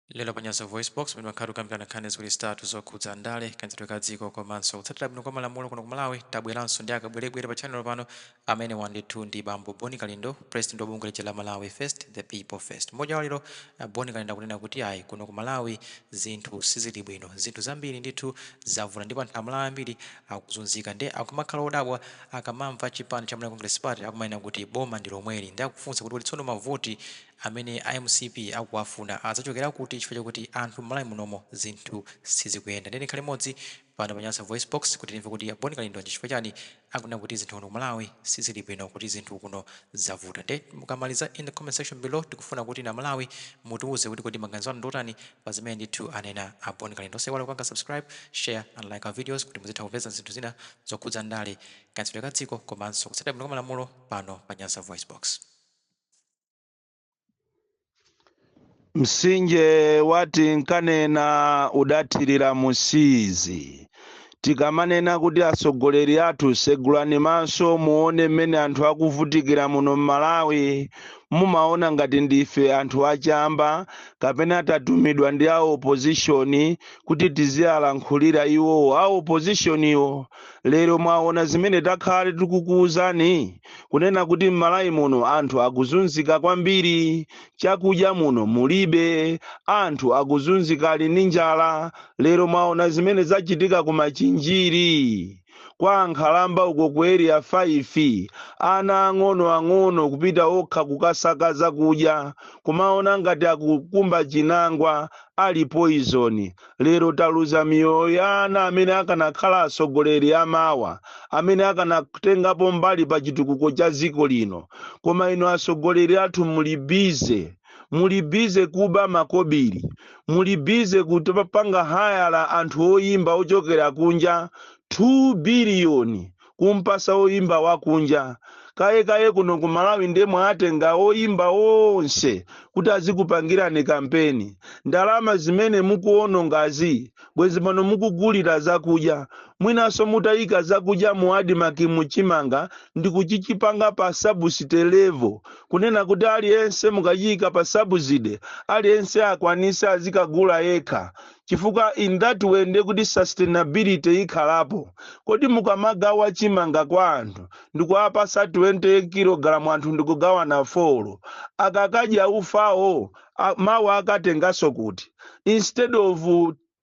Lero pa Nyasa VoiceBox pamene makhala tikukambirana nkhani ziwiri zitatu zokhudza ndale, kayendetsedwe ka dziko komanso kutsatira bwino kwa malamulo kuno ku Malawi, tabweranso ndi akabwerebwere pa tchanelo pano. Amenewa ndithu ndi bambo Boni Kalindo, pulezidenti wa bungwe lija la Malawi First, The People First. M'mawu awo lero, a Boni Kalindo akunena kuti ayi, kuno ku Malawi zinthu sizili bwino. Zinthu zambiri ndithu zavuta ndipo anthu a Malawi ambiri akuzunzika. Ndiye akumakhala odabwa akamamva a chipani cha Malawi Congress Party akumanena kuti boma ndi lomweli. Ndiye akufunsa kuti kodi tsono mavoti amene a mcp akuwafuna adzachokera kuti chifukwa chakuti anthu mmalawi munomo zinthu sizikuyenda ndiye tikhale limodzi pano pa Nyasa VoiceBox kuti timve kuti a Bon Kalindo ndi chifukwa chani akunena kuti zinthu kuno ku Malawi sizili bwino kuti zinthu kuno zavuta nde mukamaliza in the comment section below tikufuna kuti inu a Malawi mutiuze kuti kodi maganizo anu ndi otani pa zimene ndithu anena a Bon Kalindo osaiwala kupanga subscribe share and like our videos kuti muzitha kupeza zinthu zina zokhudza ndale kayendetsedwe ka dziko komanso kutsatira bwino kwa malamulo pano pa Nyasa VoiceBox msinje wati nkanena udathirira musizi tikamanena kuti atsogoleri athu segulani maso muone mmene anthu akuvutikira muno m'malawi mumaona ngati ndife anthu achamba kapena tatumidwa ndi a opozishoni kuti tiziwalankhulira iwowo a opozishoniwo lero mwaona zimene takhala tikukuwuzani kunena kuti m'malawi muno anthu akuzunzika kwambiri chakudya muno mulibe anthu akuzunzika ali ndi njala lero mwaona zimene zachitika ku machinjiri kwa ankhalamba uko ku area 5 ana ang'onoang'ono kupita okha kukasaka zakudya kumaona ngati akukumba chinangwa ali poizoni lero taluza miyoyo ya ana amene akanakhala atsogoleri amawa amene akanatengapo mbali pa chitukuko cha dziko lino koma inu atsogoleri athu muli bize muli bize kuba makobiri muli bize kukapanga hayala anthu oyimba ochokera kunja 2 biliyoni kumpasa oyimba wakunja kaya kaya kuno ku malawi ndiye mwatenga oyimba onse kuti azikupangirani kampeni ndalama zimene mukuonongazi bwezi pano mukugulira zakudya mwinanso mutaika zakudya mu adimaki mu chimanga ndi kuchichipanga pa sabuside levo kunena kuti aliyense mukachiika pa sabuside aliyense akwanise azikagula yekha chifukwa in that way ndiye kuti sustainability ikhalapo kodi mukamagawa chimanga kwa anthu ndikuwapasa 20 kilogalamu anthu ndikugawana folo akakadya ufawo a- mawa akatenganso kuti instead of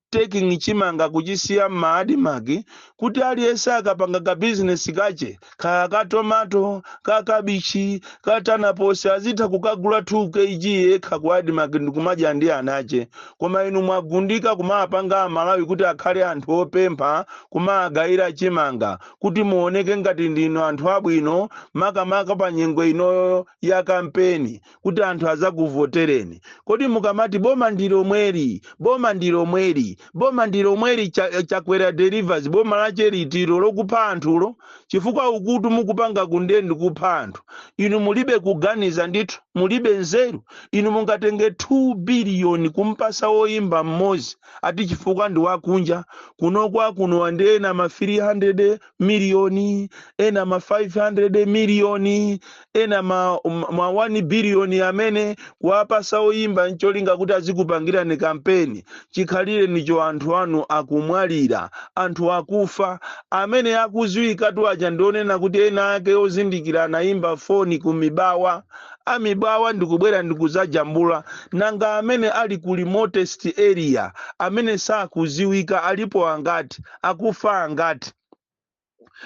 taking chimanga kuchisiya m'maadimaki kuti aliyense akapanga ka bizinesi kache kaya ka tomato ka kabichi ka tanaposi azitha kukagula 2 kg yekha ku admarc ndikumadya ndi anache koma inu mwagundika kumawapanga amalawi kuti akhale anthu opempha kumawagayira chimanga kuti muoneke ngati ndinu anthu abwino makamaka pa nyengo inoyo ya kampeni kuti anthu azakuvotereni kodi mukamati boma ndi lomweli boma ndi lomweli boma ndi lomweli Cha- chakwera delivers boma lache litilo lokupha anthulo chifukwa ukutu mukupangaku nde ndi kupha anthu inu mulibe kuganiza ndithu mulibe nzeru inu mungatenge 2 biliyoni kumpasa woyimba mmodzi ati chifukwa ndi wakunja kuno akunowa ndi ena ma 300 miliyoni ena ma 500 miliyoni ena ma, ma 1 biliyoni amene kuwapasa oyimba ncholinga kuti azikupangirani kampeni chikhalirenicho anthu anu akumwalira anthu akufa amene akuziwikatu aja ndi onena kuti ena ake ozindikira anayimba foni ku mibawa a mibawa ndikubwera ndikuzajambula nanga amene ali ku remotest area amene sakuziwika alipo angati akufa angati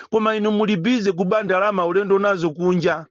koma inu muli busy kuba ndalama ulendo nazo kunja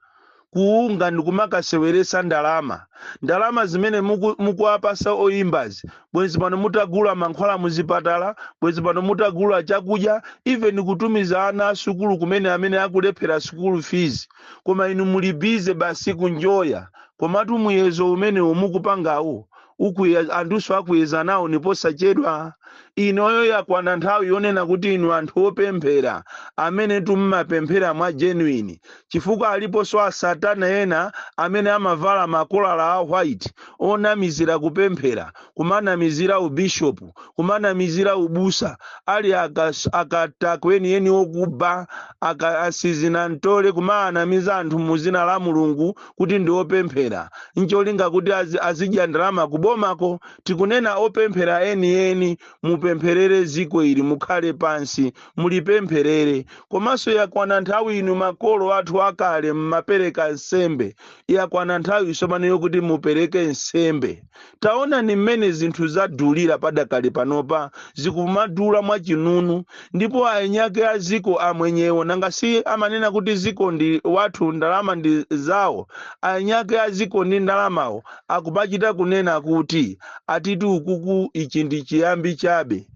ku unga ndikumakaseweresa ndalama ndalama zimene muku- mukuwapasa oyimbazi bwenzi pano mutagula mankhwala muzipatala bwenzi pano mutagula chakudya even kutumiza ana asukulu kumene amene akulephera sukulu fees koma inu muli busy basi kunjoya komatu muyezo umenewu mukupangawu Ukuye, anthuso akuyeza nawo ni posachedwa. Inoyo yakwana nthawi yonena kuti inu anthu opemphera, amenetu mmapemphera mwa genuine, chifukwa aliponso a satana ena amene amavala makolala a white onamizira kupemphera, kumanamizira u bishop, kumanamizira ubusa, ali aka akatakwe enieni okuba, aka asizinantole, kumawanamiza anthu mu zina la Mulungu kuti ndi opemphera ncholinga kuti azi- azidya ndalama kubomako tikunena opemphera enieni mupempherere ziko ili mukhale pansi mulipempherere komanso yakwana nthawi inu makolo athu akale mmapereka nsembe yakwana nthawi tsopano yokuti mupereke nsembe Taonani mmene zinthu zadulira padakali panopa, zikumadula mwachinunu. Ndipo aeni ake a dziko amwenyewo, nanga si amanena kuti dziko ndi wathu, ndalama ndi zawo? Aeni ake a dziko ndi ndalamawo akumachita kunena kuti, Atitu ukuku ichi ndi chiyambi chabe.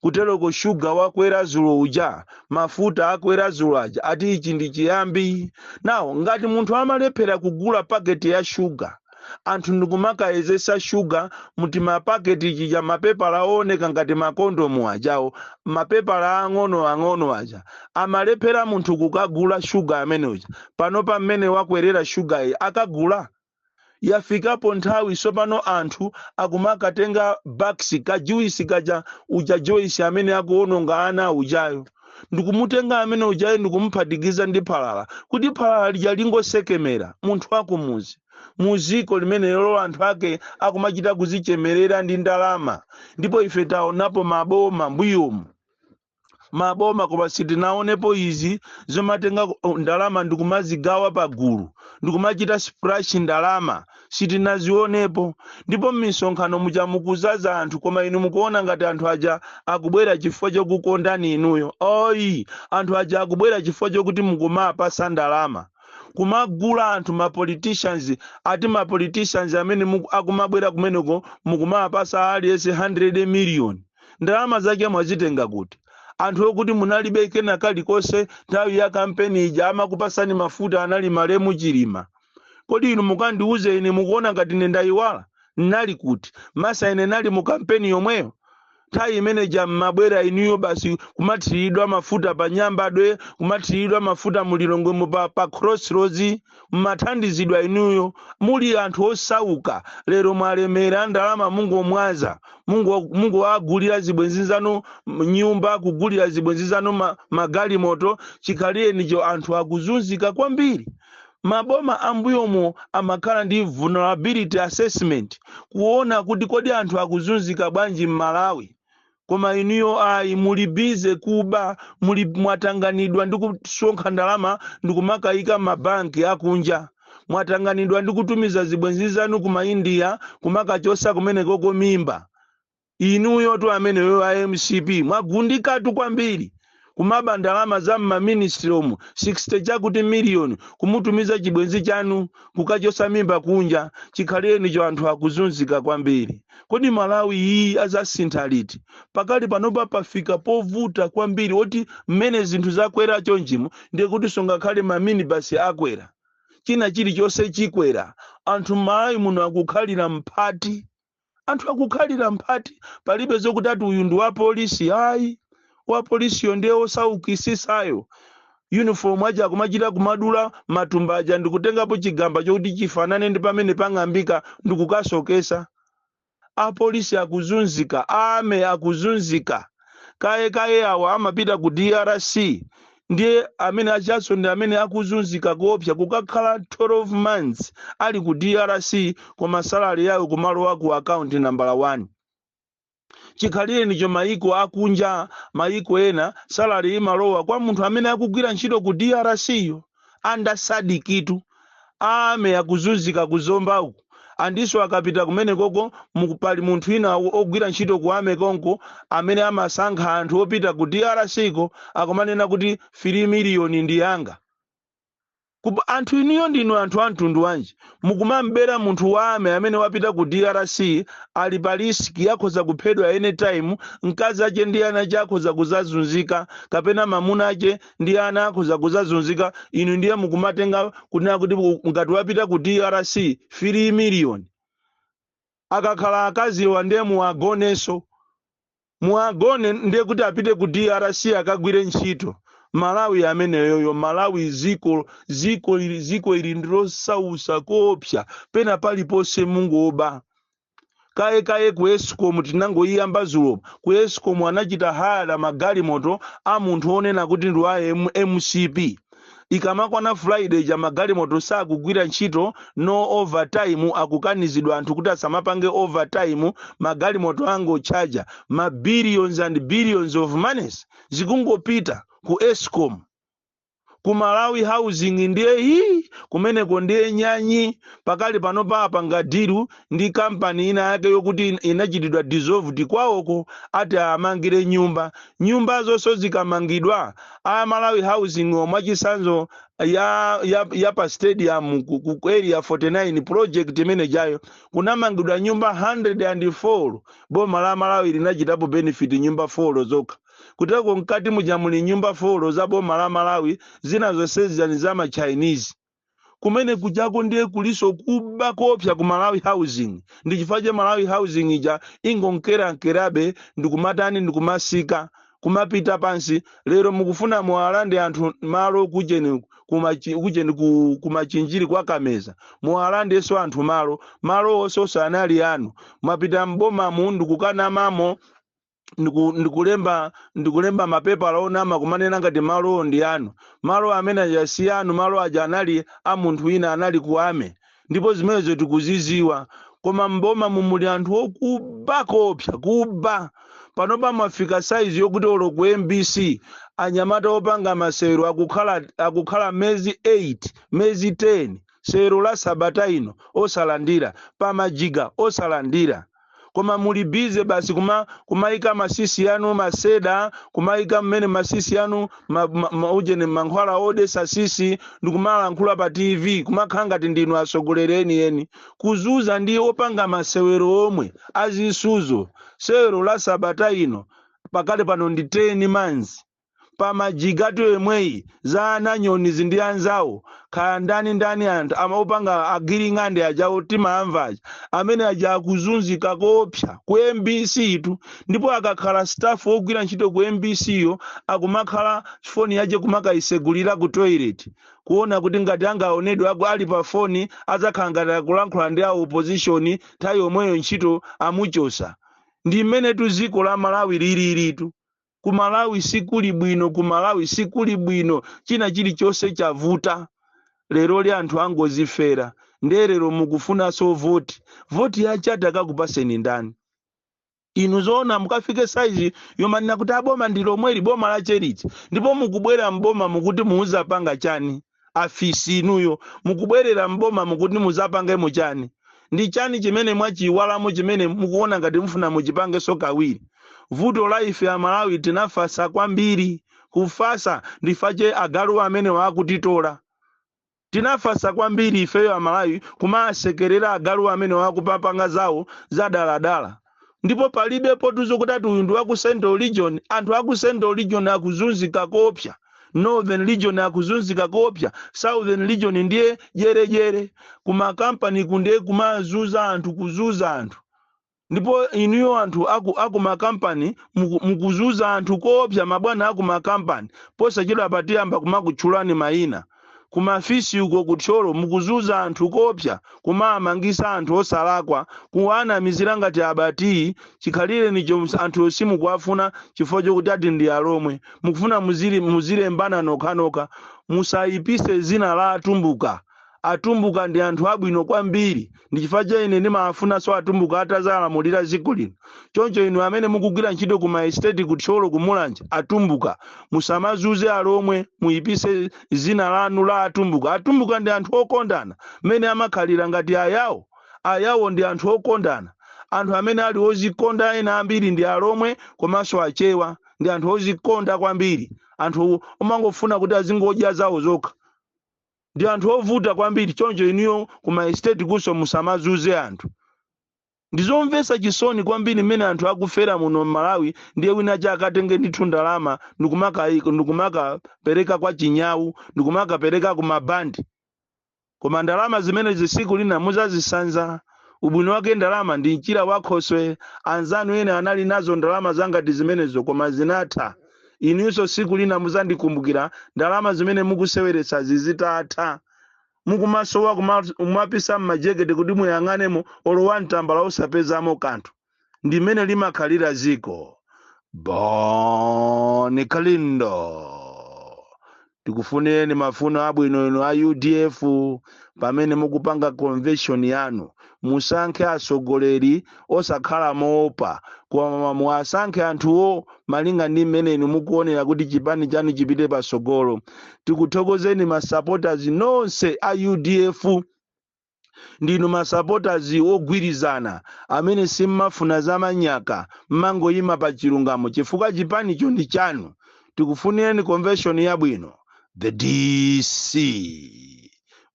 kuteloko shuga wakwera zulo uja mafuta akwera zulo aja ati ichi ndi chiyambi now ngati munthu amalephera kugula paketi ya shuga anthu ndikumakayezesa shuga mutimapaketi tija mapepala ooneka ngati makondomu ajawo mapepala ang'ono ang'ono aja amalephera munthu kukagula shuga amene uja panopa mmene wakwerera shugayi akagula yafikapo nthawi sopano anthu akumakatenga bax ka juice kaja uja joyce amene akuononga ana ujayo ndikumutenga amene ujayo ndikumuphatikiza ndi phalala kuti phalala lija lingosekemera munthu wakumuzi muziko limene lero anthu ake akumachita kuzichemerera ndi ndalama ndipo ife taonapo maboma mbuyomu maboma koma sitinaonepo izi zomatenga ku- ndalama ndikumazigawa pagulu ndikumachita splash ndalama sitinazionepo ndipo m'misonkhano muja mukuzaza anthu koma inu mukuona ngati anthu aja akubwera chifukwa chokukondani inuyo oyi anthu aja akubwera chifukwa chokuti mukumapasa ndalama kumagula anthu ma politicians ati ma politicians amene muku- akumabwera kumeneko mukumapasa aliyense 100 million ndalama zake mwazitenga kuti anthu okuti munalibe kena kalikonse nthawi ya kampeni ija amakupasani mafuta anali malemu chilima kodi inu mukandiuze ine mukuona ngati ine ndayiwala nali kuti masa ine nali mu kampeni yomweyo nthawi imene ija mmabwera inuyo basi kumathiridwa mafuta pa nyambadwe kumathiridwa mafuta mulilongwemo pa, pa crossroads mmathandizidwa inuyo muli anthu osauka lero mwalemera ndalama mungomwaza mungo- mungowagulira zibwenzi zanu m- nyumba kugulira zibwenzi zanu ma- magalimoto chikhalirenicho anthu akuzunzika kwambiri maboma ambuyomo amakhala ndi vulnerability assessment kuona kuti kodi anthu akuzunzika bwanji m'malawi koma inuyo ayi muli busy kuba muli mwatanganidwa ndi kusonkha ndalama ndikumakayika mabanki akunja mwatanganidwa ndi kutumiza zibwenzi zanu ku maindiya kumakachosa kumenekoko mimba inuyotu ameneyo a mcp mwagundikatu kwambiri kumaba ndalama za m'ma ministry'omu 60 chakuti million kumutumiza chibwenzi chanu kukachosa mimba kunja chikhalirenicho anthu akuzunzika kwambiri kodi malawi iyi azasintha liti pakali panopa pafika povuta kwambiri oti mmene zinthu zakwera chonchimo ndiye kuti so ngakhale ma minibus akwera china chilichonse chikwera anthu m'malawi muno akukhalira mphati Anthu akukhalira mphati palibe zokuti ati uyu ndi wapolisi ayi. Wapolisiyo ndiye wosaukisisayo. Uniform aja akumachita kumadula matumba aja ndikutengapo chigamba chokuti chifanane ndi pamene pang'ambika ndikukasokesa. Apolisi akuzunzika, Army akuzunzika. kaye kaye awa amapita ku drc ndiye amene ajaso ndi amene akuzunzika koopsa kukakhala 12 months ali ku drc koma salari yawo kumalowa ku akaunti nambala 1 chikhalirenicho mayiko akunja mayiko ena salari imalowa kwa munthu amene akugwira ntchito ku drc yo under sadc tu army akuzunzika ku zomba uku andiso akapita kumene koko muku- pali munthu wina o- ogwira ntchito ku army konko amene amasankha anthu opita ku drc ko akumanena kuti 3 miliyoni ndi yanga anthu inuyo ndinu anthu a mtundu wanji mukumambera munthu wa army amene wapita ku drc ali pa risiki akhoza kuphedwa anytime mkazi ache ndi ana ache akhoza kuzazunzika kapena mamuna ache ndi ana akhoza kuzazunzika inu ndiye mukumatenga kunena kuti u- ngati wapita ku drc 3 million akakhala akaziwa ndiye muwagonenso muwagone ndiye kuti apite ku drc akagwire ntchito malawi ameneyoyo malawi ziko ziko ili ziko ili ndilosausa koopsa pena paliponse mungoba kaye kaye ku escom tinangoyiyamba zulo ku escom anachita hayala magalimoto a munthu onena kuti ndi wa M- mcp ikamakwana friday ja magalimoto sakugwira ntchito no overtime akukanizidwa anthu kuti asamapange overtime magalimoto angotchaja ma billions and billions of monies zikungopita ku escom ku malawi housing ndiye hi kumeneko ndiye nyanyi pakali panopa apanga dilu ndi kampani ina yake yokuti in- inachitidwa dissolved kwawoko ati amangire nyumba nyumba zonso zikamangidwa a malawi housing mwachisanzo ya, ya, ya pa stadium ku, ku ku area 49 project imene ijayo kunamangidwa nyumba 104 boma la malawi linachitapo benefit nyumba 4 zokha Kuteroko mkati muja muli nyumba folo za boma la Malawi zina zonse zija ndi za ma Chinese. Kumene kujako ndiye kuliso kuba koopsa ku Malawi Housing. Ndi chifukwa che Malawi Housing ija ingonkerankerabe ndikumatani ndikumasika kumapita pansi lero mukufuna muwalande anthu malo kujeni kumachi- kujeni ku- kumachinjiri kwa kameza muwalandenso anthu malo malo onsewo sanali anu mwapita m'bomamu ndikukanamamo ndiku- ndikulemba ndikulemba mapepala onama kumanena ngati malowo ndi anu malo amene aja si anu malo aja anali a munthu wina anali ku army ndipo zimenezo tikuziziwa koma mbomamu muli anthu okuba koopsa kuba panopa mwafika saizi yokuti olo ku mbc anyamata opanga masewero akukhala akukhala mezi 8 mezi 10 sewero la sabata ino osalandira pamajiga osalandira koma muli busy basi kuma kumaika masisi yanu maseda kumaika mmene masisi yanu ma, ma, ma, ujeni mankhwala odesa sisi ndikumalankhula pa tv kumakhala ngati ndinu atsogoleri enieni kuzuza ndi opanga masewero omwe azisuzo sewero la sabata ino pakali pano ndi 10 months pamajigatu yemweyi za a nanyonizi ndi anzawo kaya ndani ndani anthu ama opanga a giring'ande ajawo timaamva aja amene aja akuzunzika koopsa ku mbc tu ndipo akakhala staff ogwira ntchito ku mbc yo akumakhala foni yache kumakayisegulira ku toilet kuona kuti ngati angaonedwe aku ali pa foni adzakhala ngati akulankhula ndi a opposition nthawi yomweyo ntchito amuchosa ndi mmenetu dziko la malawi lililitu ku malawi sikuli bwino ku malawi sikuli bwino china chilichonse chavuta leroli anthu angozifera ndiye lero mukufunanso voti voti yachani akakupaseni ndani inu zoona mukafike saizi yomanena kuti a boma ndi lomweli boma lache liti ndipo mukubwera mboma mukuti muzapanga chani afisi inuyo mukubwerera m'boma mukuti muzapangemo chani ndi chani chimene mwachiiwalamo chimene mukuona ngati mufuna muchipangenso kawiri vuto la ife amalawi tinafasa kwambiri kufasa ndifache agalu amenewa akutitola tinafasa kwambiri ifeyo amalawi kumasekerera agalu amenewa akupapanga zawo zadaladala ndipo palibepotu zokuti ati uyu ndi wa ku central region anthu a ku central region akuzunzika koopsa northern region akuzunzika koopsa southern region ndiye jerejere kumakampaniku ndiye kumazuza anthu kuzuza anthu ndipo inuyo anthu aku, aku makampani muku- mukuzuza anthu koopsa mabwana aku makampani posachedwapa tiyamba kumakutchulani mayina kumaofesi uko ku thyolo mukuzuza anthu kopsa kumawamangisa anthu osalakwa kuwanamizira ngati aba tiyi chikhalirenicho ms- anthuwo simukuwafuna chifukwa chokuti ati ndi alomwe mukufuna muzili- muzilembana nokhanokha musayipise zina la atumbuka atumbuka ndi anthu abwino kwambiri ndi chifukwa cha ine ndimafunanso atumbuka atazalamulira dziko lino choncho inu amene mukugwira ntchito ku maesteti ku thyolo ku mulanje atumbuka musamazuze alomwe muyipise zina lanu la atumbuka atumbuka ndi anthu okondana mmene amakhalira ngati ayawo ayawo ndi anthu okondana anthu amene ali ozikonda ena ambiri ndi alomwe komanso achewa ndi anthu ozikonda kwambiri anthu omangofuna kuti azingodya zawo zokha ndi anthu ovuta kwambiri choncho inuyo ku maestate kunso musamazunze anthu ndizomvetsa chisoni kwambiri mmene anthu akufera muno mmalawi ndiye wina chakatenge ndithu ndalama ndikumakapereka kwa chinyawu ndikumakapereka ku mabandi koma ndalama zimenezi siku lina muzazisanza ubwino wake ndalama ndi mchira wakhoswe anzanu ena anali nazo ndalama zangati zimenezo koma zinatha inunso tsiku lina muzandikumbukira ndalama zimene mukuseweretsazi zitatha mukumasowa kumapisa mmajekete kuti muyang'anemo olo wan tambala osapezamo kanthu ndi mmene limakhalira ziko boni kalindo tikufunireni mafuno abwino inu a udf pamene mukupanga convention yanu musankhe atsogoleri osakhala moopa koma muwasankhe anthuwo malinga ndi mmene inu mukuonera kuti chipani chanu chipite patsogolo tikuthokozeni ma supporters nonse a udf ndinu masapotazi wogwirizana amene simmafuna zamanyaka mmangoyima pa chilungamo chifukwa chipanicho ndi chanu tikufunireni convention yabwino the dc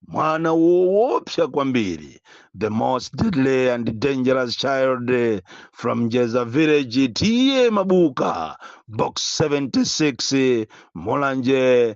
mwana woopsa kwambiri the most deadly and dangerous child from jeza village t a mabuka box 76 mulanje